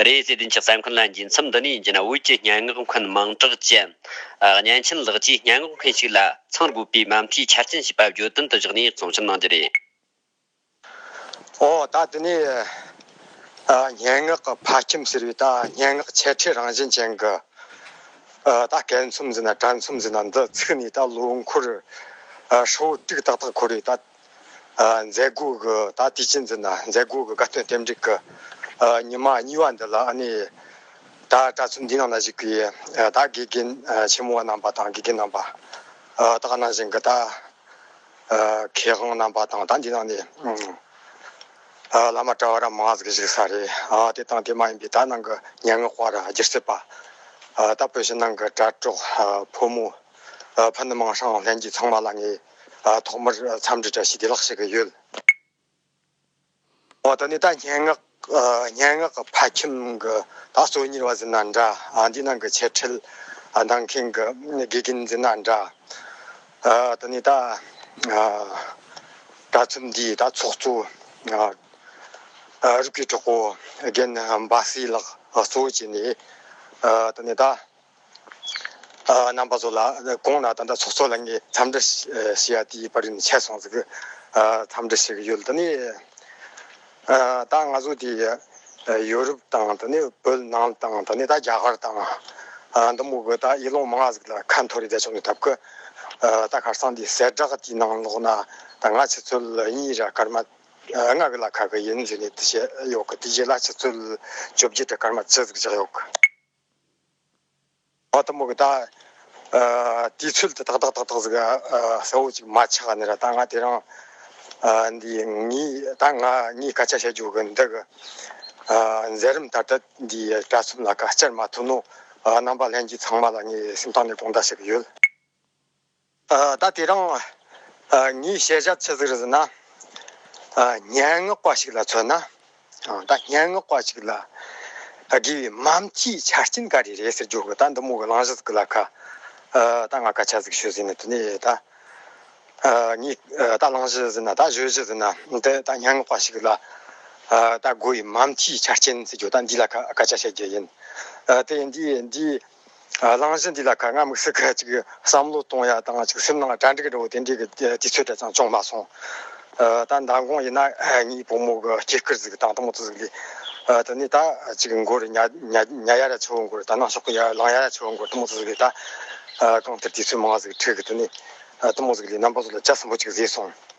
རེད། བརྩེ་ལྡན་གྱི་ས་འཁོན་ལ་འགྱིང་མཚམས་འདི་ནས་བགྱིས་ན་དབུས་ཀྱི་སྙན་ངག་འཁོན་མང་གྲགས་ཅན། གཉན་ཆེན་ལགས་ཀྱིས་སྙན་ངག་འཁོན་ཞིག་ལ་ཚང་དགོས་པའི་མ་མཐའི་ཆ་རྐྱེན་ཞེས་པ་བརྗོད་དོན་དུ་བཞག་ནས་གཙང་བཤེར་གནང་རྒྱུ་རེད། འོ་ད་དེ་ནས་སྙན་ངག་གི་ཕ་ཁྱིམ་ཟེར་བའི་ད་སྙན་ངག་ཆེ་ཕྲའི་རང་བཞིན་ཅན་གྱི་ད་སྐད་འཚོམས་ཟེར་ན་དྲ་འཚོམས་ཟེར་ན་འདི་ཚུགས་ནས་ད་ལོ་འཁོར་ཧྲིལ་བོ་དཀྲུགས་ཏག་ཏག་འཁོར་བའི་ད། མཛད་སྒོའི་གི་ད་དེ་ཕྱིན་ཚུན་ན་མཛད་སྒོའི་གི་དགའ་སྟོན་ཐེམ་སྒྲིག་གི་ཉི་མ་གཉིས་པ་འདི་ལ་ཨ་ནི། ད་གྲྭ་བཙུན་འདི་རྣམས་ལ་གཞིགས་པའི་ད་དགེ་རྒན་ཆེན་མོ་བ་རྣམས་པ་དང་དགེ་རྒན་རྣམས་པ། ད་ག་ནང་བཞིན་གི་ད་མཁས་དབང་རྣམས་པ་དང་ད་འདི་ནང་ནས་བླ་མ་གྲྭ་བ་ར་མང་ཙ་གི་གཞིགས་ས་རེད་དེ་དང་དེ་མ་ཡིན་པའི་ད་ནང་གི་ཉེ་ངག་བ་ར་སྒྱུར་བྱེད་པ། ད་བོད་ཕྱི་ནང་གི་དྲ་གྲོགས་ཕོ་མོ་ཕ་ནུ་མང་ཧྲང་ལྷན་རྒྱས་ཚང་མ་ལ་ངས། ཐོག་མར་འཚམས་འདྲི་བཀྲ་ཤིས་བདེ་ལགས་ཞུ་གི་ཡོད། འོ་ད་ནི་ད་སྙན་ངག་སྙན་ངག་གི་ཕ་ཁྱིམ་གྱི་ད་གསོ་ཉེར་བ་ཟིན་ན་འདྲ་འདི་ནང་གི་འཆད་ཁྲིད་གནང་མཁན་གྱི་དགེ་རྒན་ཟིན་ན་འདྲ། ད་ནི་ད་དྲ་ཚོམས་འདིའི་ད་ཚོགས་གཙོ་རིགས་ཀྱི་གྲོགས་པོ་རྒན་འབའ་སྲས་ལགས་གཙོ་བྱས་ནས་ད་ནི་ད། རྣམ་པ་ཚོ་ལ་དགོངས་ན་ད་ལྟ་ཚོགས་གཙོ་ལ་ངས་འཚམས་འདྲི་ཞུ་ཡ་དེའི་བར་ནས་ཆད་སོང་ཟིག་འཚམས་འདྲི་ཞུ་གི་ཡོད་ད་ནི་ད་ང་ཚོ་དེ་ཡོ་རུབ་དང་ད་ནི་བོད་ནང་དང་ད་ནི་ད་རྒྱ་གར་དང་འདི་མོ་གི་ད་ཡེ་ལོང་མ་ང་ཟིག་ལ་ཁ་འཐོར་ཡོད་ད་ཆོག་ནས་ཐབས་ཀི་ད་ཁར་སང་དེ་ཟད་བསྒྲགས་དེའི་ནང་ལོགས་ན་ད་ང་ཆུ་ཚོད་གཉིས་ར་སྐར་མ་ལྔ་གི་ལ་ཁ་གི་ཡིན་ཟིག་ནས་དེ་བཤད་ཡོད་གི་དེ་རྗེས་ལ་ཆུ་ཚོད་བཅོ་བརྒྱད་ར་སྐར་མ་བཅུ་ཟིག་བཞག་ཡོད་གི། བ་དང་མོ་གི་ད། དེའི་ཚུལ་དེ་དག་དག་དག་དག་ཟེར་ག་ས་བོ་ཅིག་མ་ཆགས་ནས་ར་ད་ང་དེ་རང། འདི་ངའི་ད་ང་གཉིས་སྐད་ཆ་བཤད་རྒྱུ་གི་འདུག་གི། མཛད་རིམ་ད་ལྟ་འདི་གྲྭ་གསུམ་ལ་ཁ་སྐྱར་མ་ཐུག་ནོ། རྣམ་པ་ལྷན་གྱིས་ཚང་མ་ལ་ངས་སེམས་ཐག་ནས་དགོངས་དག་བྱེད་ཀྱི་ཡོད། ད་དེ་རིང་ངའི་བཤད་བྱ་ཚིག་ཟེར་ཟིན་ན། སྙན་ངག་པ་ཞིག་ལ་མཚོན་ན། ད་སྙན་ངག་པ་ཞིག་ལ་དགེ་བའི་འམ་སྤྱིའི་ཆ་རྐྱེན་ག་རེ་རེད་ཟེར་རྒྱུ་ད་འདི་མོ་གི་བླང་བཞག་ཟིག་ལ་ཁ། ད་ང་ཁ་ཆ་ཟིག་ཤོད་ཟིན་ན་དེ་ནས་ད། ངས་ད་བླང་བཞག་ཟིན་ན་ད་བཞོད་བཞག་ཟིན་ན་འདི་ད་སྙན་ངག་པ་ཞིག་ལ། ད་དགོས་བའི་འམ་སྤྱིའི་ཆ་རྐྱེན་ཟེར་རྒྱུ་ད་འདི་ལ་ཁ་ཆ་བཤད་རྒྱུ་ཡིན། དེ་འདི་འདིའི། བླང་བྱ་འདི་ལ་ག་ང་དམིགས་བསལ་ག་ཅིག་བསམ་བློ་གཏོང་ཡ་དང་ཅིག་སེམས་ནང་གྲ་འགྲིག་འགྲོ་དེ་འདྲའི་གི་དུས་ཚོད་དེ་ཙང་བྱུང་མ་སོང། ད་མདང་དགོང་ཡིན་ན་ངའི་བུ་མོ་གི་སྐྱེས་སྐར་ཟིག་དང་ཐུ་མོ་ཚོ་ཟིག་ལས། དེ་ནས་ད་ཅིག་མགོ་རུ་ཉལ་ཉལ་ཡ་ར་ཆུ་བོ་མགོ་རུ་ད་ནང་ཤོག་གི་ཡ་ལང་ཡ་ར་ཆུ་བོ་མགོ་རུ་ཐུ་མོ་ཚོ་ཟིག་ལས་ད། གང་ལྟར་དུས་ཚོད་མང་ཟིག་འཁྲིགས་དེ་ནས། ཐུ་མོ་ཟིག་ལས་རྣམ་པ་ཚོ་ལ་ཇག་ཟིང་པོ་ཅིག་བཟས་སོང།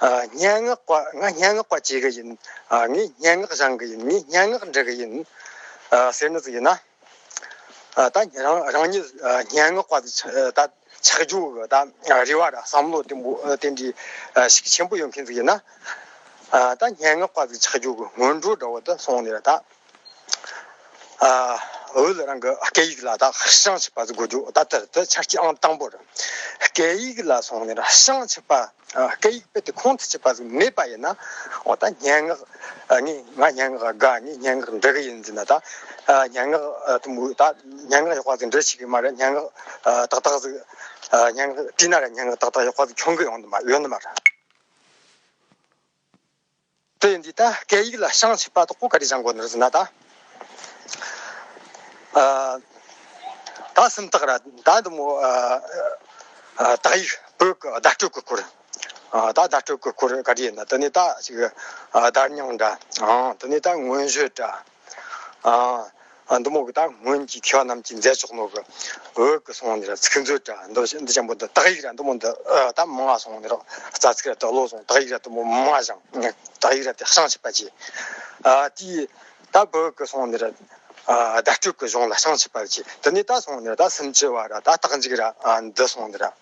སྙན་ངག་པ་ང་སྙན་ངག་པ་བྱེད་གི་ཡིན། ངས་སྙན་ངག་བཞེངས་གི་ཡིན་ངས་སྙན་ངག་འབྲི་གི་ཡིན། ཟེར་ནི་ཟིག་ཡིན་ན། ད་རང་ཉིད་སྙན་ངག་པ་ད་ཆགས་རྒྱུ་གི་ད་རེ་བ་ད་བསམ་བློ་དེ་འདྲི་ཞིག་ཆེན་པོ་ཡོད་མཁན་ཟིག་ཡིན་ན། ད་སྙན་ངག་པ་ཆགས་རྒྱུ་གི་སྔོན་འགྲོ་འདྲ་བོ་ད་སོང་ནས་ད། འོས་ལ་རང་གི་སྐད་ཡིག་ལ་དག་ཞང་བྱེད་པ་དགོས་རྒྱུ་ད་ལྟར་དུ་ཆ་རྐྱེན་དང་པོ་རེད། སྐད་ཡིག་ལ་སོང་ནས་ཞང་བྱེད་པ་སྐད་ཡིག་དཔེ་དེ་ཁོང་དུ་ཆུད་པ་ཟིག་མེད་པ་ཡིན་ན་འོ་ད་སྙན་ངག་ངས་ང་སྙན་ངག་དགའ་ངས་སྙན་ངག་འབྲི་གི་ཡིན་ཟེར་ན་ད་སྙན་ངག་དུམ་བུ་ད་སྙན་ངག་ཡག་པ་ཟིག་འབྲི་ཤེས་གི་མ་རེད་སྙན་ངག་ཏག་ཏག་ཟིག་སྙན་ངག་བྲིས་ན་རེད་སྙན་ངག་ཏག་ཏག་ཡག་པ་ཟིག་འཁྱོང་གི་ཡོང་གི་མ་རེད། དེ་འདི་ལྟ་སྐད་ཡིག་ལ་ཤངས་ཆེ་དཔའ་དོག་པོ་ག་རེ་བྱང་དགོས་ནུར་ཟེར་ན་ད། ད་སེམས་ཐག་ར་ད་འདི་མོ། དག་ཡིག་བོད་གི་བརྡ་སྤྲོད་གི་སྐོར། ད་བརྡ་སྤྲོད་གི་སྐོར་ག་རེ་ཡིན་ན་དེ་ནས་ད་ཅིག། བརྡ་རྙིང་འདྲ་འང་དེ་ནས་ད་ངོས་བཞོད་འདྲ། ཨ། འདུ་མོ་གི་དང་སྔོན་གྱི་ཁྱོད་རྣམས་ཀྱིས་མཛད་ཆོག་ནོ་གི། འོད་ཀྱི་སོང་ནི་ར་ཚིག་མཛོད་དྲ་འདུ་ཞིང་འདི་ཆེན་པོ་འདི་དག་ཡིག་ར་འདུ་མོ་འདི་དང་མ་ང་སོང་ནི་རོ་རྩ་ཚིག་ར་དག་ལོ་སོང་དག་ཡིག་ར་དུ་མོ་མ་ང་ཞང་དག་ཡིག་ར་དེ་ཤང་ཆིག་པ་བྱས། ཨ་ཏི། ད་བོད་ཀྱི་སོང་ནི་ར། དད་སྤྲོས་ཀྱི་གཞུང་ལ་ཤང་ཆིག་པ་བྱས་དི་ནི་ད་སོང་ནི་ར་ད་སུམ་ཅུ་བ་ར་ད་དག་འཇིག་ར་འདི་སོང་ནི་ར།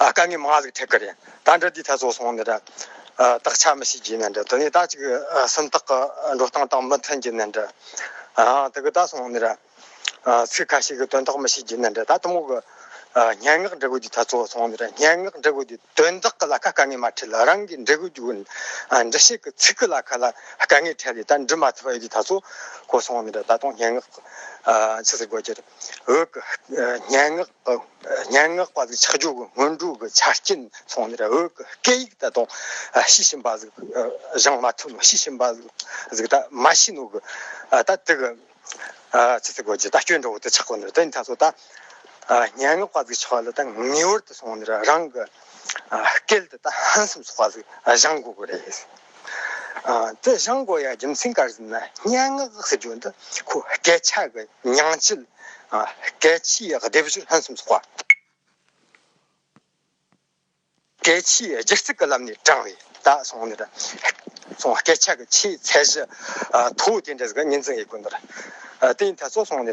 ཨ་དཀའ་ངལ་མང་ལགས་ཐད་ཀར་ཡང་ད་འདྲ་དུས་ཐལ་ཚོགས་སོང་ནས་འདྲ། དག་ཆ་མི་ཤེས་རྒྱུའི་ནས་འདྲ་དེ་ནས་ད་ཅིག་སེམས་ཐག་འགྲོ་སྟངས་དང་མི་མཐུན་རྒྱུ་ནས་འདྲ། དེ་གི་ད་སོང་ནས་འདྲ། ཚིག་ཁ་ཤས་ཀྱི་དོན་དག་མི་ཤེས་རྒྱུ་ནས་འདྲ་ད་གཏུམ་མོ་གི་སྙན་ངག་འབྲི་དགོས་དུས་ཐལ་ཚོགས་སོང་ནས་འདྲ་སྙན་ངག་འབྲི་དགོས་དུས་དོན་དག་གི་ལ་ཁ་དཀའ་ངལ་མ་འཕྲད་ལ་རང་གིས་འབྲི་དགོས་རྒྱུ་འབྲི་བྱེད་ཀྱི་ཚིག་གི་ལ་ཁ་ལ་དཀའ་ངལ་འཕྲད་ལས་ད་འབྲི་མ་ཐུབ་པ་ཡོད་དུས་ཐལ་ཚོགས་སོང་ནས་འདྲ་ད་དུང་སྙན་ངག་ཕྱི་ཟེར་དགོས་ཀྱི་རེད་འོད་ཀྱི་སྙན་ངག། སྙན་ངག་པ་ཚོའི་ཆགས་འཇོག་གི་སྔོན་འགྲོའི་ཆ་རྐྱེན་ཚང་ནས་བོད་ཀྱི་སྐད་ཡིག་ད་དུང་ཤེས་བཞིན་པ་ཟིག་སྦྱང་མ་ཐུབ་ནོ་ཤེས་བཞིན་པ་ཟིག་ད་མ་ཤེས་ནོ་གི་ད་དེ་གི་ཚིག་རྩི་གོ་རྗེས་ད་སྐྱོན་འགྲོ་བོ་དེ་ཆགས་པ་ནི་དེ་ད་ཚོ་ད་སྙན་ངག་པ་ཚོའི་ཆགས་ལ་ད་ངེས་བར་དུ་སོང་ནས་རང་གི་སྐད་དེ་ད་ཧང་སེམས་སོགས་པ་ཟིག་སྦྱང་དགོས་གི་རེད། རྩལ་བྱང་སྒོ་ཡི་རྒྱུ་མཚན་སྐར་གསུམ་ན་སྙན་ངག་ཟེར་རྒྱུ་འདི་ཁོ་སྐད་ཆ་གི་ཉིང་བཅུད་སྐད་ཆའི་སྡེབ་སྦྱོར་ལྷན་གསུམ་སོགས་པ་སྐད་ཆའི་སྒྱུ་རྩལ་གྱི་ལམ་ནས་དྲངས་བས་ད་སོང་ནི་སྐད་ཆ་གི་ཆེས་ཚད་གཞི་མཐོ་བོ་དེ་འདྲ་ཟིག་ཉིན་མཚན་ཡིན་དགོས་འདུག་དེ་ཡིན་ད་སོང་ནི་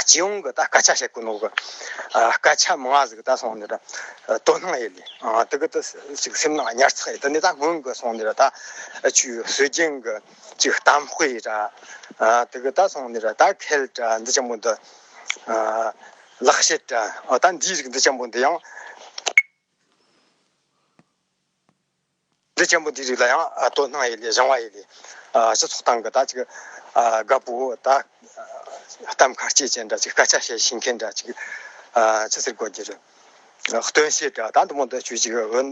སྤྱི་ཡོངས་ཀྱི་སྐད་ཆ་བཤད་ཀྱི་འདུག་གི། སྐད་ཆ་མང་བ་ཟིག་ད་སོང་ནས་ད་དོ་སྣང་ཡེ་ལེ། དེ་གི་ད་ཅིག་སེམས་ནང་ཉར་ཚགས་ཡེ་ད་ནས་ད་སྔོན་གྱི་སོང་ནས་ད་ཆུའི་སྲོལ་རྒྱུན་གྱི་ཅིག་གཏམ་དཔེ་ཡེ་ད། དེ་གི་ད་སོང་ནས་ད་ཁལ་ད་འདི་ཅན་པོ་འདི། ལག་བཤད་ད་འདིའི་རིགས་འདི་ཅན་པོ་འདི་ཡང། འདི་ཆེན་པོ་འདིའི་རིགས་ལ་ཡང་དོ་སྣང་ཡེ་ལེ་བཞེང་བ་ཡེ་ལེ། སྤྱི་ཚོགས་སྟེང་གི་ད་ཅིག་དགའ་པོ་དག་གཏམ་ཁ་སྐྱེད་བྱེད་འདྲ་ཅིག་སྐད་ཆ་བཤད་ཤེས་མཁན་འདྲ་ཅིག་ཅི་ཟེར་དགོས་ཀྱི་རེད། སྟོན་བཤད་འདྲ་ད་འདི་མོ་འདི་ཆོས་ཅིག་འོན་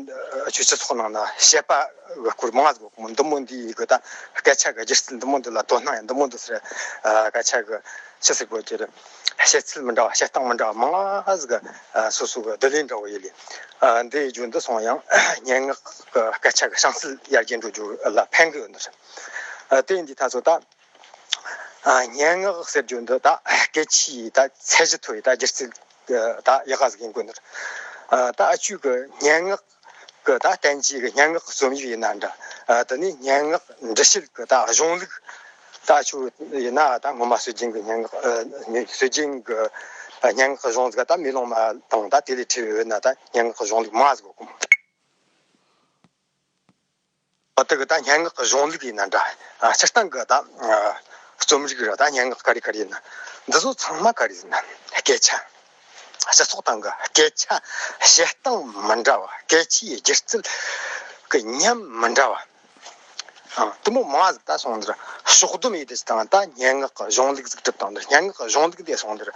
ཆོས་སྤྱི་ཚོགས་ནང་ན་བཤད་པ་གི་སྐོར་མང་དགོས་ཀྱི་མོ་འདི་མོ་འདི་ཡི་གི་ད་སྐད་ཆ་གི་སྒྱུ་རྩལ་འདི་མོ་འདི་ལ་དོ་སྣང་ཡང་འདི་མོ་འདི་ཟེར་སྐད་ཆ་གི་ཅི་ཟེར་དགོས་ཀྱི་རེད། བཤད་ཚུལ་མི་འདྲ་བ་བཤད་སྟངས་མི་འདྲ་བ་མང་གཟུགས་ཀ་སོ་སོ་གི་བསྡུ་ལེན་འདྲ་བོ་ཡོད་ལས། འདི་ཡི་རྒྱུན་དུ་སོང་ཡང་སྙན་ངག་གི་སྐད་ཆ་གི་བྱང་ཚུལ་ཡར་རྒྱས་འགྲོ་རྒྱུར་ལ་ཕན་གི་ཡོད་འདུག་ཟེར། དེ་ཡིན་དུས་ད་གཟོད་ད་སྙན་ངག་ཟེར་རྒྱུ་འདི་ད་སྐད་ཆའི་ཡི་ད་ཚད་གཞི་མཐོ་བའི་ད་སྒྱུ་རྩལ་གྱི་ད་ཡི་ག་ཟིག་ཡིན་དགོས་འདུག་ད་བཅུད་ཀྱི་སྙན་ངག་ཀུ་ད་བསྟན་བཅོས་ཀྱི་སྙན་ངག་རྩོམ་ཡིག་ཡིན་ན་འདྲ། འདི་ནི་སྙན་ངག་འབྲི་བྱེད་ཀུ་དྭགས་གཞུང་ལུགས་ལྟ་ཆུ་ཡིན་ན་ད་སྔོན་མ་སྲོལ་རྒྱུན་གྱི་སྙན་ངག་སྲོལ་རྒྱུན་གྱི་སྙན་ངག་གཞུང་ལུགས་ད་མི་ལོང་མ་དང་ད་དེ་ལས་འཕྲི་འོས་ན་ད་སྙན་ངག་གཞུང་ལུགས་མ་གཟུགས། བ་དག་དང་སྙན་ངག་གཞུང་ལུགས་ཡིན་ན་འདྲ། སྤྱིར་བཏང་གི་དང། རྩོམ་རིག་རང་དང་སྙན་ངག་ག་རེ་ག་རེ་ཡིན། འདི་ཚོ་ཚང་མ་ག་རེ་ཡིན། སྐད་ཆ། སྤྱི་ཚོགས་སྟེང་གི་སྐད་ཆ། བྱེད་སྟངས་མི་འདྲ་བ། སྐད་ཆའི་སྒྱུ་རྩལ་གྱི་ཉམས་མི་འདྲ་བ། གཏི་མུག་མང་བ་ཟིག་ད་སོང་འདིར་ཕྱོགས་བསྡོམས་ཡོད་དེ་སྤྱིར་བཏང་ད་སྙན་ངག་གཞུང་ལུགས་ཟིག་གྲུབ་སྟངས་འདིར་སྙན་ངག་གཞུང་ལུགས་འདས་སོང་འདིར།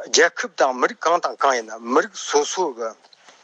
རྒྱལ་ཁབ་དང་མི་རིགས་གང་དང་གང་ཡིན། མི་རིགས་སོ་སོ་གི་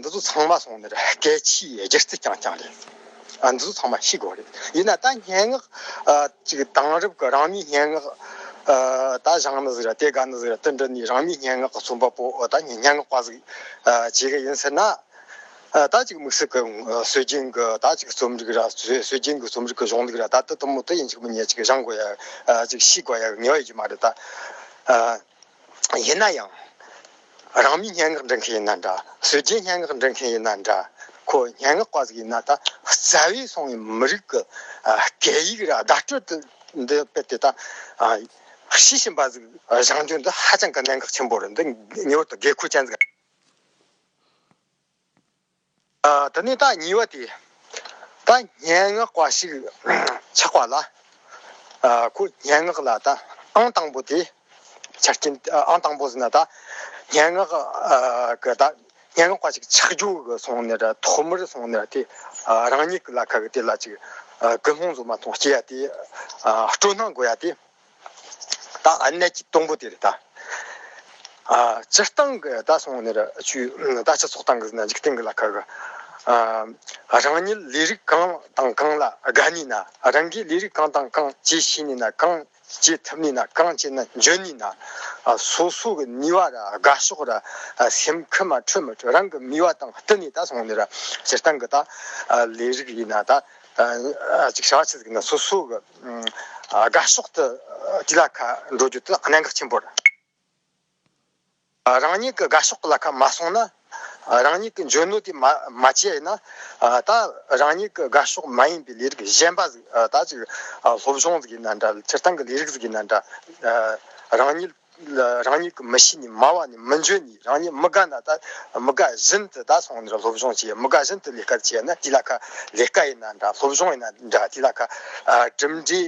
འདི་ཚོ་ཚང་མ་སོང་ནས་སྐད་ཆའི་སྒྱུ་རྩལ་རྐྱང་རྐྱང་རེད། འདི་ཚོ་ཚང་མ་ཤི་དགོས་རེད། ཡིན་ན་ད་སྙན་ངག་ཅིག་དེང་རབས་ཀྱི་རང་མིའི་སྙན་ངག་ད་བཞག་ན་ཟིག་ར་དེ་དགའ་ན་ཟིག་ར་དེ་འདྲ་ནི་རང་མིའི་སྙན་ངག་གི་རྩོམ་པ་པོ་ད་སྙན་ངག་པ་ཟིག་བྱེད་ཀྱི་ཡིན་ཟེར་ན། ད་ཅིག་དམིགས་བསལ་གྱི་སྲོལ་རྒྱུན་གྱི་ད་ཅིག་རྩོམ་རིག་ར་སྲོལ་རྒྱུན་གྱི་རྩོམ་རིག་གྱི་གཞུང་ལུགས་ར་ད་དེ་དུ་མུ་མཐུད་ཡིན་ཅིག་མི་ཉལ་ཅིག་བཞག་དགོས་ཡ་ཅིག་ཤི་དགོས་ཡ་ཡོད་ཀྱི་མ་རེད་ད། ཡིན་ན་ཡང། རང་མིས་སྙན་ངག་འབྲི་མཁན་ཡིན་ན་འདྲ། བཟོས་རྗེས་སྙན་ངག་འབྲི་མཁན་ཡིན་ན་འདྲ། ཁོ་སྙན་ངག་པ་ཟིག་ཡིན་ན་ད་རྩ་བས་སོང་བའི་མི་རིགས་ཀྱི་སྐད་ཡིག་ར་བརྡ་སྤྲོད་དུ་འདི་དཔེར་དེ་ལྟར་ཤེས་བཞིན་པ་ཟིག་བཞེངས་རྒྱུ་འདི་ཧ་ཅང་གི་གནད་འགག་ཆེན་པོ་རེད་འདི་ངེས་བར་དུ་དགོས་མཁོ་ཅན་ཟིག་རེད། ད་ནི་བདག་ཉིད་བ་དེ་ད་སྙན་ངག་པ་ཞིག་ཆགས་པ་ལ། ཁོ་སྙན་ངག་ལ་ད་ཨང་དང་པོ་དེ་ཆགས་རྐྱེན་ཨང་དང་པོ་ཟེར་ན་ད་སྙན་ངག་གི་ད་སྙན་ངག་པ་ཞིག་ཆགས་རྒྱུ་གི་སོང་ནས་ད་ཐོག་མར་སོང་ནས་དེ་རང་ཉིད་ལ་ཁ་གི་དེ་ལ་ཅིག་དགུན་ལྷུང་བཟོ་མ་མཐོང་སྐྱེ་ཡ་དེ་སྤྲོ་སྣང་དགོས་ཡ་དེ། གནས་ཀྱི་སྟོང་པོ་དེར་སྤྱིར་བཏང་གི་བདག་སོང་ནས་ཆུའི་བདག་ཆགས་སོགས་བཏང་གི་འཇིག་རྟེན་གྱི་ལ་ཁ་གི་རང་ཉིད་ལས་རིགས་གང་དང་གང་ལ་དགའ་ནུས་ན་རང་གིས་ལས་རིགས་གང་དང་གང་བྱེད་ཤེས་ནུས་ན་གང་བྱེད་ཐུབ་ནུས་ན་གང་བྱས་ན་འཇོན་ནུས་ན་སོ་སོ་གི་ནུས་བ་ར་དགའ་ཕྱོགས་ར་སེམས་ཁུ་མ་འཕྲོད་མི་འཕྲོད་རང་གི་མིག་བ་དང་བསྟུན་ནས་བདག་སོང་ནས་སྤྱིར་བཏང་གི་ལས་རིགས་ཡིན་ན་ཅིག་ཤ་ཆེ་ཟིག་ན་སོ་སོ་གི་དགའ་ཕྱོགས་དུ་གྱི་བླ་ཁ་འགྲོ་རྒྱུ་དེ་གནད་འགག་ཆེན་པོ་རེད། རང་ཉིད་ཀྱི་དགའ་ཕྱོགས་ཀྱི་བླ་ཁ་མ་སྲུང་ན། རང་ཉིད་ཀྱི་འཇོན་ནུས་དེ་མ་སྤྱད་ན། ད་རང་ཉིད་ཀྱི་དགའ་ཕྱོགས་མ་ཡིན་པའི་ལས་རིགས་གཞན་པ་ཟིག་ད་ཅིག་སློབ་སྦྱོང་ཟིག་ཡིན་ན་འདྲ་ཚེ་ཐང་གི་ལས་རིགས་ཟིག་ཡིན་ན་འདྲ། རང་ཉིད། རང་ཉིད་ཀྱི་མི་གཤིས་ནི་མང་བ་ནི་མི་འཇོན་ནི་རང་ཉིད་མི་དགའ་ན་ད་མི་དགའ་བཞིན་དུ་ད་སོང་ནས་སློབ་སྦྱོང་བྱེད་མི་དགའ་བཞིན་དུ་ལས་ཀར་བྱེད་ན་དེ་ལ་ཁ་ལས་ཀ་ཡིན་ན་འདྲ་སློབ་སྦྱོང་ཡིན་ན་འདྲ་དེ་ལ་ཁ་གྲིམ་འགྲིག་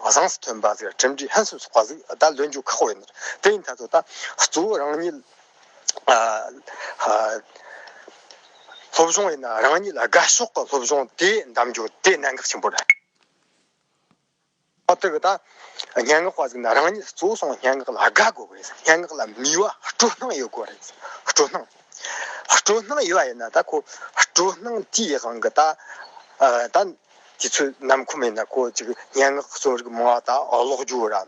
བཟང་སུ་ཐོན་པ་ཟིག་གྲིམ་འགྲིག་ཧན་སུ་ཟོག་པ་ཟིག་ད་ལོན་རྒྱུ་ཁག་པོ་ཡིན་དེ་ཡིན་ད་དོ་ད་གཙོ་བོ་རང་ཉིད་སློབ་སྦྱོང་ཡིན་ན་རང་ཉིད་ལ་དགའ་ཕྱོགས་ཀྱི་སློབ་སྦྱོང་དེ་འདམ་རྒྱུ་དེ་གནད་འགག་ཆེན་པོ་རེད། ཨ་ཏི་ཀ་དང། སྙན་ངག་པ་ཟིག་ན་རང་ཉིད་གཙོ་བོ་སོང་སྙན་ངག་ལ་དགའ་དགོས་པ་ཡིན། སྙན་ངག་ལ་མི་བ་སྤྲོ་སྣང་ཡོད་དགོས་རེད། སྤྲོ་སྣང། སྤྲོ་སྣང་ཡོད་པ་ཡིན་ན་ད་ཁོ་སྤྲོ་སྣང་ཅི་ཡི་དབང་གིས་ད། ད། དེ་ཚོའི་ནམ་ཁོ་མེད་ན་ཁོ་ཅིག་སྙན་ངག་གསོན་རིག་མང་བ་དག་ལོག་རྒྱུ་ར།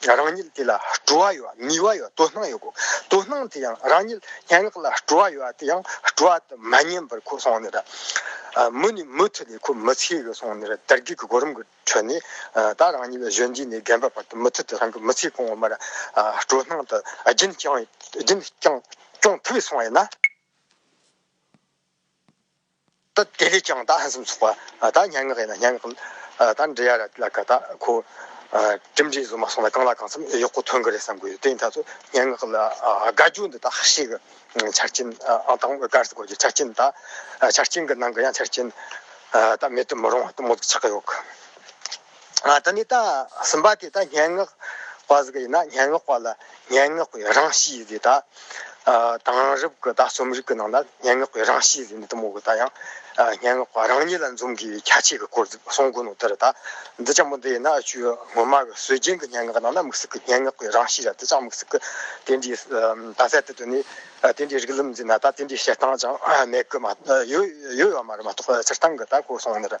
རང་ཉིད་དེ་ལ་སྤྲོ་བ་ཡོད་ནུས་པ་ཡོད་དོ་སྣང་ཡོད་དགོས་དོ་སྣང་དེ་ཡང་རང་ཉིད་སྙན་ངག་ལ་སྤྲོ་བ་ཡོད་དེ་ཡང་སྤྲོ་བ་དེ་མ་ཉམས་པར་ཁོ་སོང་ནས་རེད་མུ་ནས་མུ་མཐུད་ནས་ཁོ་མི་ཚེའི་ལོ་སོང་ནས་རེད་དར་རྒུད་ཀྱི་གོ་རིམ་གྱི་ཁྲོད་ནས་ད་རང་ཉིད་ལ་གཞོན་སྐྱེས་ནས་རྒན་པའི་བར་དུ་མུ་མཐུད་དུ་རང་གི་མི་ཚེ་གོང་མར་སྤྲོ་སྣང་དུ་རྒྱུན་བསྐྱངས་ཐུབ་སོང་ཡོད་ན། ད་དེ་ལས་ཀྱང་ད་ཧན་སུམ་ཚོགས་པ་ད་མྱ་ངག་ཡིན་ན་མྱ་ངག་ད་འབྲི་ཡ་ར་ལ་ཀ་ད་ཁོ་གྲིམ་འགྲིག་བཟོ་མ་སོང་ན་གང་ལ་གང་འཚམ་གཡོག་པོ་ཐོན་གི་རེད་བསམ་གི་ཡོད་དེ་ཡིན་ད་ཚོ་མྱ་ངག་ལ་དགའ་རྒྱུ་འདི་ད་ཧ་ཤི་གི་ཆ་རྐྱེན་ཨང་དང་པོ་ག་རེ་ཟེར་དགོས་ཀྱི་ཆ་རྐྱེན་ད་ཆ་རྐྱེན་གི་ནང་གི་ཡང་ཆ་རྐྱེན་ད་མེད་དུ་མི་རུང་བ་དུ་མོ་ཆགས་ཀྱི་ཡོད་གི། ད་ནི་རྟགས་ཟིན་པ་དེ་དག་སྙན་ངག་པ་ཟིག་ཡིན་ན་སྙན་ངག་པ་ལ་སྙན་ངག་པའི་རང་གཤིས་དེ་དག་དེང་རབས་ཀྱི་ད་རྩོམ་རིག་གི་ནང་ན་སྙན་ངག་པའི་རང་གཤིས་ཟེར་ནས་དུ་མོ་གི་ད་ཡང་སྙན་ངག་པ་རང་ཉིད་ལ་འཛོམས་དགོས་པའི་ཁྱད་ཆོས་ཀྱི་སྐོར་ཟིག་གསུང་དགོས་ནོ་དེར་ད་འདི་ཅང་མི་འདི་ཡིན་ན་ཆུ་ངོ་མ་གི་སྲོལ་རྒྱུན་གྱི་སྙན་ངག་ནང་ན་མིག་ཟུག་གི་སྙན་ངག་པའི་རང་གཤིས་ར་དེ་ཅང་མིག་ཟུག་གི་དེ་འདྲའི་ད་གསལ་དུ་དུ་ནི་དེ་འདྲའི་རིགས་ལམ་འཛིན་ན་ད་དེ་འདྲའི་བཤད་སྟངས་ཅང་མེད་ཀི་མ་ཡོད་ཡོད་ཡོད་ཡོད་མ་རེད་མ་གཏོགས་སྤྱིར་བཏང་གི་ད་གོ་སོང་ནི་རེད།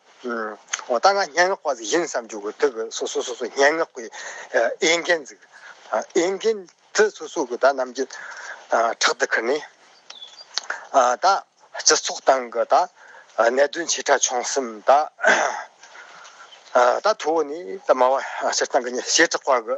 ད་ང་སྙན་ངག་པ་ཞིག་ཡིན་བསམ་རྒྱུ་དེ་བས་སོ་སོ་སོ་སོའི་སྙན་ངག་གི་དབྱེ་མཁན་གཟིགས། དབྱེ་མཁན་དེ་སོ་སོ་གི་ད་རྣམ་འགྱེད་ཕྲག་ཏུ་ཁུར་ནས། ད་སྤྱི་ཚོགས་སྟེང་གི་ད་གནད་དོན་ཆེ་ཕྲ་ཆུང་གསུམ་ད། ད་ཐུ་བོ་ནི་ད་སྨྲ་བ་སྤྱིར་བཏང་གི་ཉེས་བྱས་དྲག་པ་གི།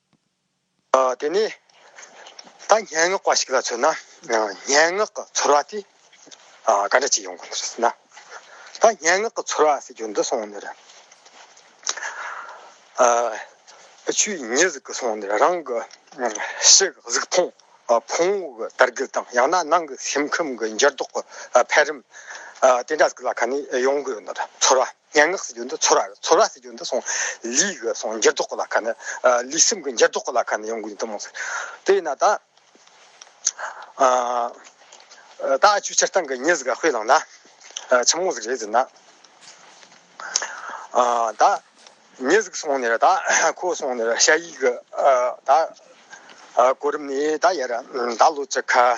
དེ་ནས་ད་སྙན་ངག་པ་ཞིག་ལ་མཚོན་ན་སྙན་ངག་གི་ཚོར་བ་དེ་ག་འདྲ་ཅིག་ཡོང་གི་འདུག་ཟེར་ན། ད་སྙན་ངག་གི་ཚོར་བ་ཟེར་རྒྱུ་འདི་སོང་ནས་རེད། ཆུའི་ཉི་ཟིག་གི་སོང་ནས་རང་གི་ཕྱི་གི་གཟུགས་མཐོང་ཕུང་བོ་གི་དར་རྒུད་དང་ཡང་ན་ནང་གི་སེམས་ཁམས་ཀྱི་འགྱུར་ལྡོག་གི་འཕེལ་རིམ་དེ་འདྲ་ཟིག་ལ་ཁ་ནས་ཡོང་གི་ཡོད་འདུག་ཚོར་བ། སྙན་ངག་ཟེར་རྒྱུ་འདི་ཚོར་བ་རེད་ཚོར་བ་ཟེར་རྒྱུ་འདི་སོང་ལུས་ཀྱི་སོང་འགྱུར་ལྡོག་གི་ལ་ཁ་ནི་ལུས་སེམས་ཀྱི་འགྱུར་ལྡོག་གི་ལ་ཁ་ནི་ཡོང་གི་ཡོད་དུ་མ་ཟད་དེ་ཡིན་ན་ད་ད་ཆུ་ཕྱིར་བཏང་གི་ཉིན་ཟིག་ལ་དཔེ་བླངས་ན་ཆུང་ངུ་ཟིག་རེད་ཟེར་ན་ད་ཉིན་ཟིག་སོང་ནས་ད་ཁོ་སོང་ནས་ཤ་ཡིག་གི་ད་གོ་རིམ་ནི་ད་ཡར་ད་ལོ་ཅི་ཁ་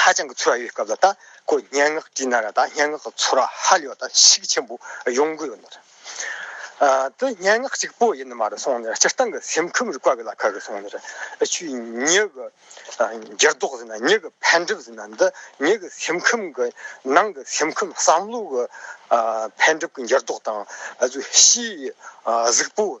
ཧ་ཅང་གི་ཚོར་བ་ཡོད་སྐབས་ལ་ད་ཁོ་སྙན་ངག་བྲིས་ན་ར་ད་སྙན་ངག་གི་ཚོར་བ་ཧ་ལས་པ་ད་ཤུགས་ཆེན་པོ་ཡོང་གི་ཡོད་ན་ར། དེ་སྙན་ངག་ཅིག་པོ་ཡིན་ནི་མ་རེད་སོང་ནས་ར་སྤྱིར་བཏང་གི་སེམས་ཁམས་རིག་པ་བས་ལ་ཁ་གི་སོང་ནས་ར་ཆུའི་མྱི་གི་འགྱུར་ལྡོག་ཟེར་ན་མྱི་གི་འཕེལ་འགྲིབ་ཟེར་ན་འདི་མྱི་གི་སེམས་ཁམས་གི་ནང་གི་སེམས་ཁམས་བསམ་བློ་གི་འཕེལ་འགྲིབ་ཀྱི་འགྱུར་ལྡོག་དང་གཟུགས་གཞི་གཟུགས་པོ།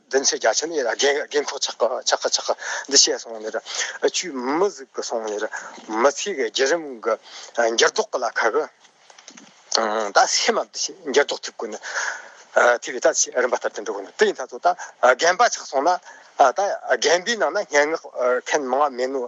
བདུན་ཚེས་བརྒྱ་ཆ་ནི་རྒན་འཁོགས་ཆག་ག་ཆག་ག་འདི་བཤད་སོང་ནས་བཅུས་མི་གཟིགས་པ་སོང་ནས་མི་ཚེ་གི་བརྒྱུད་རིམ་གྱི་འགྱུར་ལྡོག་གི་ལ་ཁ་གི་ད་བསེ་མ་འདི་ཞིག་འགྱུར་ལྡོག་ཐེབས་དགོས་ནས་ཐེབས་ཡོད་ད་ཅི་རིམ་པ་ལྟར་དེ་འགྲོ་དགོས་ནས་དེ་ཡིན་ད་ཚོ་ད་རྒན་པ་ཆག་སོང་ན་ད་རྒན་པའི་ནང་ན་སྙན་ངག་མཁན་མང་མེད་ནོ།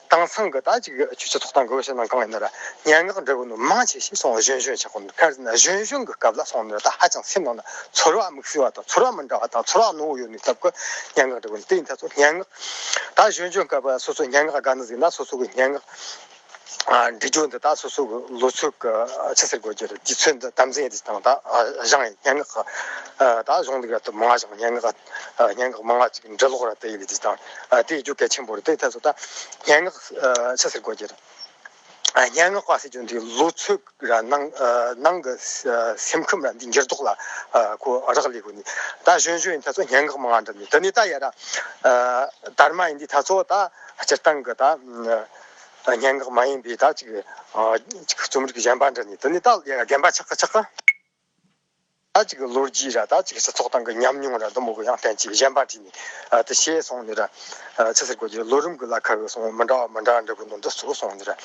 དེང་སང་གི་ད་ཅིག་ཆོས་རྗེ་ཐོག་དང་གོ་བའི་ཕྱི་ནང་གང་ཡིན་ན་ར་སྙན་ངག་འབྲི་བ་ནི་མང་ཆེ་ཤས་སོང་གཞོན་གཞོན་ཆགས་གོང་ཕར་ཟིན་ན་གཞོན་གཞོན་གྱི་སྐབས་ལ་སོང་ནས་ད་ཧ་ཅང་སེམས་ནང་ན་ཚོར་བ་མིག་སེར་བ་དང་ཚོར་བ་མི་འདྲ་བ་དང་ཚོར་བ་རྣོ་བོ་ཡོད་མེད་སྟབས་ཀྱི་སྙན་ངག་འབྲི་བ་ནི་དེའི་མཐའ་ཚོར་སྙན་ངག་ད་གཞོན་གཞོན་སྐབས་ལ་སོ་སོའི་སྙན་ངག་དགའ་ན་ཟིན་ན་སོ་སོ་གི་སྙན་ངག་འབྲི་རྒྱུ་འདི་ད་སོ་སོ་གི་ལོ་ཚོད་ཀྱི་ཆུ་སེར་དགོས་རྒྱུ་རེད་དུས་ཚོད་འདི་དམ་འཛིན་ཡེ་འདི་དང་ད་བཞེངས་སྙན་ངག་ད་གཞུང་ལུགས་ཡག་ཏུ་མ་བཞེངས་སྙན་ངག་སྙན་ངག་མན་ངག་ཅིག་འབྲི་ཀློག་ར་སྤེལ་ཡོད་པའི་དུས་དང་དེའི་རྒྱུ་གལ་ཆེན་པོ་རེད་དེའི་ཐད་སོགས་དང། སྙན་ངག་ཕྱི་ཟེར་དགོས་ཀྱི་རེད། སྙན་ངག་པ་ཟེར་རྒྱུ་འདི་ལོ་ཚོད་ར་ནང་གི་སེམས་ཁམས་ར་འདི་འགྱུར་ལྡོག་ལ་གོ་རག་ལས་དགོས་ནི་ད་གཞོན་གཞོན་ཡིན་ད་ཚོ་སྙན་ངག་མན་ངག་འབྲི་ནི་དེ་ནི་ད་ཡ་ར་དར་མ་ཡིན་དུས་ད་ཚོ་ད་སྤྱིར་བཏང་གི་ད་སྙན་ངག་མ་ཡིན་པའི་ད་ཅིག་རྩོམ་རིག་གཞན་པ་འབྲི་ནི་དེ་ནི་ད་ཡ་ར་རྒན་པ་ཆགས་ཀ་ཆགས་ཀ། ད་ཅིག་ལོ་རྒྱུས་ར་ད་ཅིག་སྤྱི་ཚོགས་སྟེང་གི་ཉམས་མྱོང་ར་དུ་མ་གུ་ཡངས་ལྡན་ཅིག་གཞན་པ་བྲིས་ནས་དེ་ཤེས་སོང་ནས་ར། ཚེ་ཟེར་གོ་ལོ་རིམ་གྱི་ལ་ཁ་བའི་སོང་མི་འདྲ་བ་མི་འདྲ་འདྲ་གི་ནང་དུ་ཟུག་སོང་ནས་ར།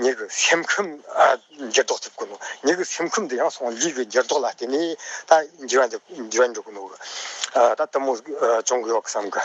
ཉིད་ཀྱི་སེམས་ཁམས་འགྱུར་ལྡོག་ཐེབས་ཀྱི་འདུག་ཉིད་ཀྱི་སེམས་ཁམས་འདི་ཡང་སོང་ལུས་ཀྱི་འགྱུར་ལྡོག་ལ་བརྟེན་ནས་ད་འགྱུར་བ་འགྱུར་གྱི་འདུག་ད་དུ་མ་བྱུང་གི་ཡོད་བསམ་གི།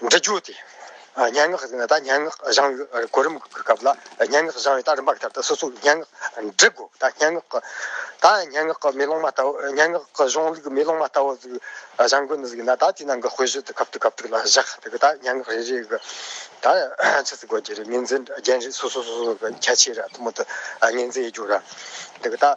འབྲི་རྒྱུ་དེ་སྙན་ངག་ཟེར་ན་ད་སྙན་ངག་བཞེངས་ཡོད་གོ་རིམ་གྱི་སྐབས་ལ་སྙན་ངག་བཞེངས་ཡོད་ད་རིམ་པ་གྱི་སྐབས་ད་སོ་སོ་སྙན་ངག་འབྲི་དགོས་ད་སྙན་ངག་གི་ད་སྙན་ངག་གི་མེ་ལོང་མ་ལྟ་བུ་སྙན་ངག་གི་གཞུང་ལུགས་མེ་ལོང་མ་ལྟ་བུ་ཟིག་བཞེངས་དགོས་ནི་ཟིག་ཡིན་ན་ད་དེ་ནང་གི་དཔེ་གཞི་དེ་གབ་ཏུ་གབ་ཏུ་ལ་བཞག་དེ་གི་ད་སྙན་ངག་རེ་རེ་གི་ད་ཆི་ཟིག་དགོས་ཀྱི་རེད་ངེས་འཛིན་རྒྱན་རེ་སོ་སོ་སོ་སོ་གི་ཁྱད་ཆོས་རེ་ཐུ་མོ་དུ་ངེས་འཛིན་ཡོད་རྒྱུ་རེད་དེ་གི་ད།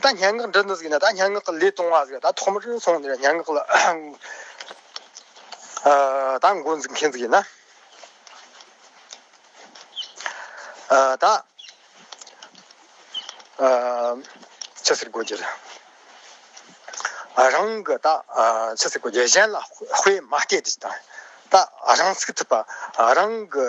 ད་ལྟ་སྙན་ངག་འབྲི་འདི་ཟིག་ན་ད་སྙན་ངག་གི་ལས་གཏོང་བ་ཟིག་ད་ཐོག་མར་སོང་ནས་སྙན་ངག་ལ་ད་འགོ་འཛུགས་མཁན་ཟིག་ཡིན་ན། ད་ཅི་ཟེར་དགོས་ཀྱི་རང་གི་ད་ཅི་ཟེར་དགོས་ཀྱི་གཞན་ལ་དཔེ་མ་སྐྱེལ་ཏེ་ད་རང་ཚུགས་ཐུབ་པ་རང་གི།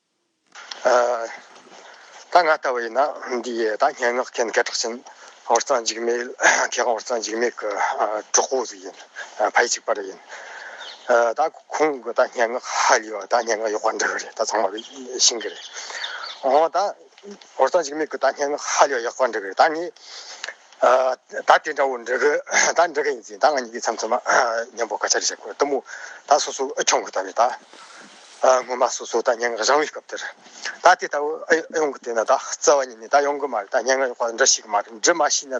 ད་ང་ལྟ་བུ་ཡིན་ན་འདི་ཡི་ད་སྙན་ངག་མཁན་སྐད་གྲགས་ཆེན་ཧོར་གཙང་འཇིགས་མེད་མཁས་དབང་ཧོར་གཙང་འཇིགས་མེད་ཀྱི་གྲོགས་པོ་ཟིག་ཡིན་ཕ་ཡི་གཅིག་པ་རེད་ཡིན་ད་ཁོང་གི་ད་སྙན་ངག་ཧ་ལས་བ་ད་སྙན་ངག་གཡོག་པ་འདི་རེད་ད་ཚང་མ་གི་ཤིང་གི་རེད་འོང་ད་ཧོར་གཙང་འཇིགས་མེད་ཀྱི་ད་སྙན་ངག་ཧ་ལས་བ་ཡག་པ་འདི་རེད་ད་ངས་ད་དེ་འདྲ་བོ་འབྲི་གི་ད་འབྲི་གི་ཡིན་ཟིན་ད་ང་གཉིས་ཀྱིས་མཚམས་མཚམས་མཉམ་པོ་སྐད་ཆ་རེ་བཤད་དགོས་གཏུམ་མོ་ད་སོ་སོ་ཨུ་ཆུང་གི་ད་ནས་ད། སྔོན་མ་སོ་སོ་ད་སྙན་ངག་རང་བའི་སྐབས་དེར། ད་དེ་ལྟ་བུ་ཡོང་གི་དེ་ན་ད་རྩ་བ་ཉིད་ནས་ད་ཡོང་གི་མ་རེད་ད་སྙན་ངག་ཡོང་ཁོ་ན་འདྲ་ཞིག་གི་མ་རེད་འདྲི་མ་ཤེས་ན་ད།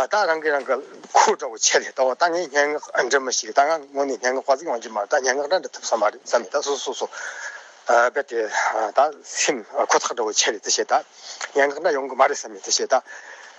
ད་རང་གིས་རང་གི་ཁུར་འདྲ་བོ་ཆད་ལས་ད་འོ་ད་ངས་སྙན་ངག་འབྲི་མི་ཤེས་ད་ང་ངོ་ནས་སྙན་ངག་པ་ཟིག་ཡོང་རྒྱུ་མ་རེད་ད་སྙན་ངག་འདྲ་འབྲི་ཐུབ་ས་མ་རེད་བསམ་ནས་ད་སོ་སོ་སོ་རྦད་དེ་ད་སེམས་ཁོ་ཐག་འདྲ་བོ་ཆད་ལས་དེ་བྱས་ད་སྙན་ངག་འདྲ་ཡོང་གི་མ་རེད་བསམ་ནས་དེ་བྱས་ད།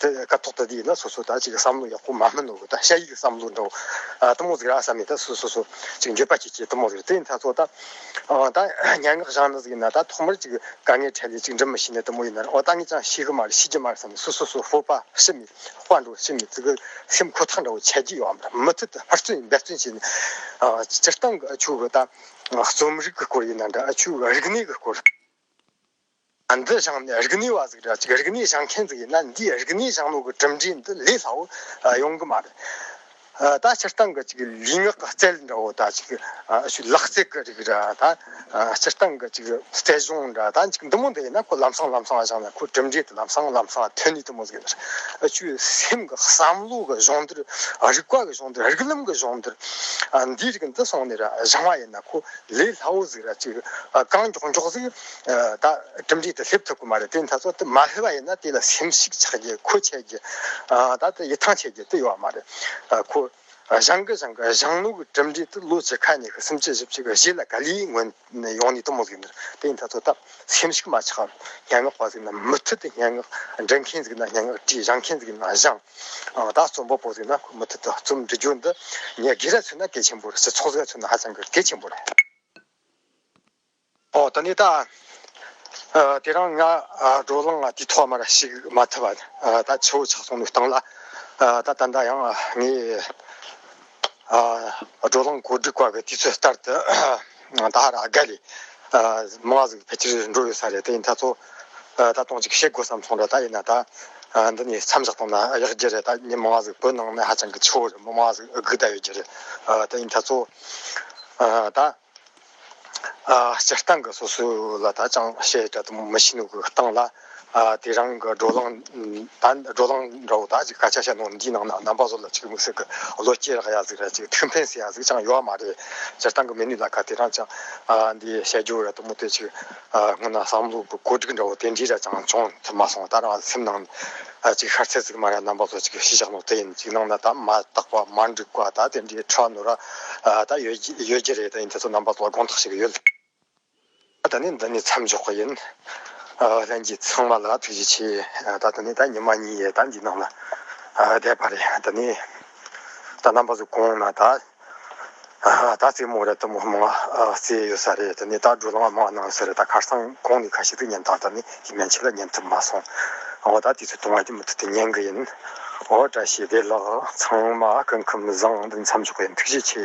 དེ་སྐབས་ཐོག་ཐ་དེ་ཡིན་ན་སོ་སོ་ད་ཅིག་བསམ་བློ་ཡག་པོ་མ་སྨིན་ནོ་ད་ཤ་ཡིག་གི་བསམ་བློ་འདྲ་བོ་ཨ་ཏི་མོ་ཟིག་ར་བསམ་མེད་ད་སུ་སོ་སོ་ཅིག་འགྱོད་པ་ཅིག་བྱེད་ཏི་མོ་ཟིག་དེ་ཡིན་ད་ཚོ་ད་ཨང་ད་སྙན་ངག་བཞག་ན་ཟིག་ཡིན་ན་ད་ཐོག་མར་ཅིག་དཀའ་ངལ་འཕྲད་ལས་ཅིག་འབྲི་མི་ཤེས་ནི་ཏི་མོ་ཡིན་ན་ཨོ་ད་ངས་ཀྱང་ཤེས་གི་མ་རེད་ཤེས་ཀྱི་མ་རེད་བསམ་ནས་སུ་སོ་སོ་ཧོ་པ་ཤི་མི་དཔའ་འགྲོ་ཤི་མི་ཟིག་གི་སེམས་ཁོ་ཐག་འདྲ་བོ་ཆད་ཀྱི་ཡོད་འམ་མུ་མཐུད་དུ་ཧུར་བརྩོན་འབད་བརྩོན་བྱས་ནས་སྤྱིར་བཏང་གི་ཆོས་གི་ད་རྩོམ་རིག་གི་སྐོར་ཡིན་ན་འདྲ་ཆོས་རིག་གནས་ཀྱི་སྐོར། ང་འདི་བཞེངས་ནས་རིག་གནས་བ་ཟིག་རེད་ཅིག་རིག་གནས་བཞེངས་མཁན་ཟིག་ཡིན་ན་འདིས་རིག་གནས་བཞེངས་ནོ་གི་གྲུབ་འབྲས་འདི་ལས་སླ་བོ་ཡོང་གི་མ་རེད། ད་སྤྱིར་བཏང་གི་ཅིག་ལུས་ངག་གི་རྩལ་འདྲ་བོ་དང་ཅིག་ཞུ་ལག་རྩལ་གྱི་རིགས་རེད་ད། སྤྱིར་བཏང་གི་ཅིག་རྩལ་གཞུང་འདྲ་ད་ཅིག་འདི་མོ་འདི་ཡིན་ན་ཁོ་ལམ་སང་ལམ་སང་བཞེངས་ན་ཁོ་གྲུབ་འབྲས་དེ་ལམ་སང་ལམ་སང་ཐོན་ནུས་ཐུབ་མོ་ཟིག་རེད། ཆུ་སེམས་ཀྱི་བསམ་བློ་གི་གཞུང་འདིར་རིག་པ་གི་གཞུང་འདིར་རིག་ལམ་གྱི་གཞུང་འདིར། འདིའི་རིགས་འདི་སོང་ནས་བཞེངས་བ་ཡིན་ན་ཁོ་ལས་སླ་བོ་ཟིག་རེད་ཅིག་རྐང་མགྱོགས་མགྱོགས་ཟིག། ད་གྲུབ་འབྲས་དེ་སླེབས་ཐུབ་ཀྱི་མ་རེད་དེ་མཐའ་སོགས་དེ་མ་སླེབས་པ་ཡིན་ན་དེ་ལ་སེམས་གཤིག་ཆགས་རྒྱུ་ཁོ་ཆད་རྒྱུ་ད་ལྟ་ཡིད་ཐང་ཆད་རྒྱུ་དེ་ཡོད་པ་མ་རེད་ཁོ་བཞང་གི་བཞང་གི་བཞང་ལུག་གི་གྲུབ་འབྲས་དེ་ལོ་བྱེ་ཁ་ཉིས་ཤུ་སུམ་ཅུ་བཞི་བཅུ་གི་བཞི་ལ་ག་ལེའི་ངོས་ནས་ཡོང་ནས་དུ་མ་ཟིག་འདུག་དེ་མཐའ་སོགས་ད་སེམས་གཤིག་མ་ཆགས་སྙན་ངག་པ་ཟིག་ན་མུ་མཐུད་དུ་སྙན་ངག་འབྲི་མཁན་ཟིག་ན་སྙན་ངག་བྲིས་བཞང་མཁན་ཟིག་ན་བཞང་ད་རྩོམ་པ་པོ་ཟིག་ན་ཁོ་མུ་མཐུད་དུ་རྩོམ་འབྲི་རྒྱུ་འདི་ངས་དགེ་རྒྱ་ཚུན་ན་གལ་ཆེན་པོ་རེད་སྤྱི་ཚོགས་ཀྱི་ཚུན་ན་ཧ་ཅང་གི་གལ་ཆེན་པོ་རེད། ཨོ་ད་ནི་ད། དེ་རང་ང་བགྲོ་གླང་ང་དུས་ཐོག་མར་ཞིག་མ་ཐུབ་པ་ད་ཆུ་བོ་ཆགས་སོང་མི་སྟངས་ལ། ད་ད་ནྡ་ཡང་ངས་བགྲོ་གླང་གོ་སྒྲིག་བཀའ་བའི་དུས་ཚོད་ལྟར་དུ་ད་ར་དགའ་ལས། མ་གཟིགས་ཕལ་ཆེར་འགྲོ་ཡོད་ས་རེད་དེ་ཡིན་ད་ཚོ། ད་སྟོང་ཅིག་བཤད་དགོས་བསམ་སོང་ད་ད་ཡིན་ན་ད། འདི་ནས་མཚམས་བཞག་སྟངས་ན་ཡག་རྒྱུ་རེད་ད་ངས་མ་གཟིགས་བོད་ནང་ནས་ཧ་ཅང་གི་ཆུ་བོ་རེད་མ་གཟིགས་སྒུག་ད་ཡོད་རྒྱུ་རེད་ད་ཡིན་ད་ཚོ། ད། སྤྱིར་བཏང་གི་སོ་སོའི་ལ་དྭགས་ཅང་ཤེས་དྲ་དུམ་མི་ཤེས་ནུས་ཀྱི་སྟངས་ལ། དེ་རང་གི་བགྲོ་གླེང་བགྲོ་གླེང་འདྲ་བོ་དག་ཅིག་སྐད་ཆ་བཤད་ནོ་འདིའི་ནང་ན་རྣམ་པ་བཟོ་ལ་ཆིག་མིག་ཟིག་གི་བློ་སྐྱེད་རག་ཡ་ཟིག་ར་ཅིག་ཐུགས་ཕན་ཟེ་ཡ་ཟིག་ཅང་ཡོད་མ་རེད། སྤྱིར་བཏང་གི་མི་ནུས་ལ་ཁ་དེ་རང་ཅང་འདི་བཤད་རྒྱུ་ར་དུམ་དེ་ཅིག་སྔོན་ན་བསམ་བློ་གི་གོ་སྒྲིག་འདྲ་བོ་དེ་འདྲའི་ར་ཅང་བྱུང་ཐུབ་མ་སོང་ད་རང་སེམས་ནང་ནས། གཅིག་ཤར་ཚད་ཚིག་མ་ར་རྣམ་པ་ལྷོ་གཅིག་ཤི་ཤག་ནོར་དེ་ཡིན་ཅིག་ནང་ན་དག་མ་བཏགས་པ་མ་འགྲིག་པ་དག་དེ་འདྲའི་ཁྲག་ནུ་ར་དག་ཡོད་རྒྱུ་རེད་ཡིན་དེ་ཚོ་རྣམ་པ་ལོག་དགོངས་དག་ཞིག་ཡོད། ད་ནི་འདི་ནས་མཚམས་འཇོག་གི་ཡིན། ལྷན་རྒྱས་ཚང་མ་ལ་ཐུགས་རྗེ་ཆེ་ད་ད་ནི་ད་ཉི་མ་གཉིས་ཡས་ད་འདི་ནང་ལ་བསྡད་པ་རེད་ད་ནི་ད་རྣམ་པ་ཚོ་གོང་ན་དག། ད་རྩེད་མོ་རེད་དུ་མོ་མང་རྩེད་ཡོད་ས་རེད་དུ་ནས་ད་སྒྲོ་ལངས་མང་གནང་ས་རེད་ད་ཁར་སང་གོང་ནས་ཁ་ཤིག་ཏུ་ཉན་ཐང་ད་ནས་ཀྱི་མན་ཆད་ལ་ཉན་ཐུབ་མ་སོང་འོ་ད་དུས་ཚོད་དུང་བ་གྱི་མུ་ཐུད་དུ་ཉན་གི་ཡིན་འོ་བཀྲ་ཤིས་བདེ་ལགས་ཚང་མ་སྐུ་ཁམས་བཟང་དུ་མཚམས་འཇོག་གི་ཡིན་ཐུགས་རྗེ་ཆེ།